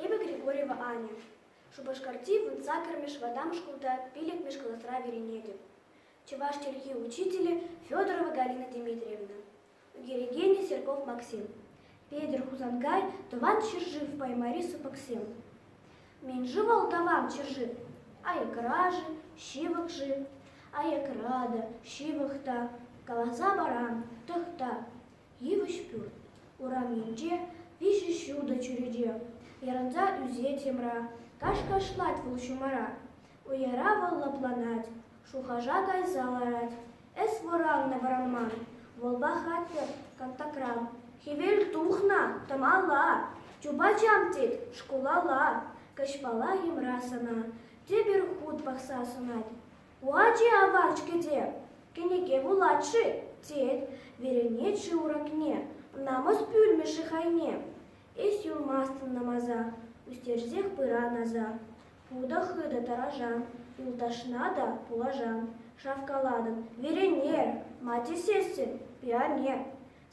Эпӗ Григорьева Аня. Шупашкарти вунса кӗрмӗш вӑтам шкулта пиллӗкмӗш класра вӗренетӗп. Чӑваш чӗлхи учителӗ Федорова Галина Дмитриевна, ӳкерекенӗ Серков Максим, Петӗр Хусанкай тӑван ҫӗршыв Паймари сыпӑксем. Мӗн-ши вӑл тӑван ҫӗршыв? Аякра-ши, ҫывӑх-ши? Аякра та, ҫывӑх та, каласа парам, тӑхта. Йывӑҫ пӳрт урамӗнче виҫӗ ҫутӑ чӳрече ярӑнса ӳсет йӑмра. Кашкашлать вӑл ҫумара, уяра вӑл лӑпланать, шухӑша кайса ларать. Эс вӑраннӑ вӑранман, вӑлпа хатӗр кантакран. Хӗвел тухнӑ тӑмала, чупачам тет шкулалла. Каҫпала йӑмра сана тепӗр хут пахса сунать. Вачи авach-ҫке те, кӗнеке вулать-ши? тет, веренет шыв-ракне, намӑс пӳлмӗ-ши хайне? Эс юлмастӑн намаса, ӳстерсех пыран аса. Путӑ-хытӑ тӑрашан, юлташна та пулашан. Шавкалатӑп, веренер, ма тесессӗн, пионер.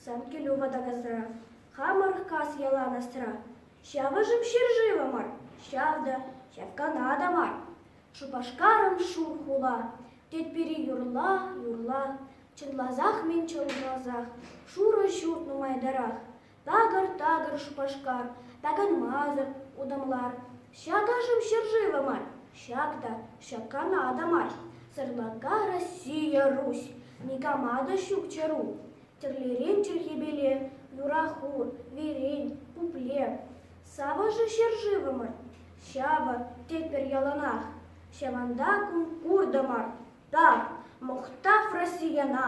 Сан килӳ ватакасра, хамӑр кас ялан асра. Ҫавӑшӑм ҫӗршывӑмӑр, ҫав та, ҫапкана та мар. Шупашкарӑм шур хула, тетпӗр-и юрла, юрла. Чӑнласах мӗн чӑнласах, шурӑ ҫурт нумайтарах. Такӑр-такӑр Шупашкар, таканмасӑр утамлар. Ҫак ашӑм ҫӗршывӗ мар, ҫак та ҫак Канада мар. Сӑрлака Россия Русь, никама та ҫук чару. Тӗрлӗрен чӗлхепеле, юра хур, верен, пуплев. Савӑшӗ ҫӗршывӑмӑр, ҫавӑ тетпӗр яланах. Ҫавӑнта кун куртӑмӑр та, мухтав Россияна!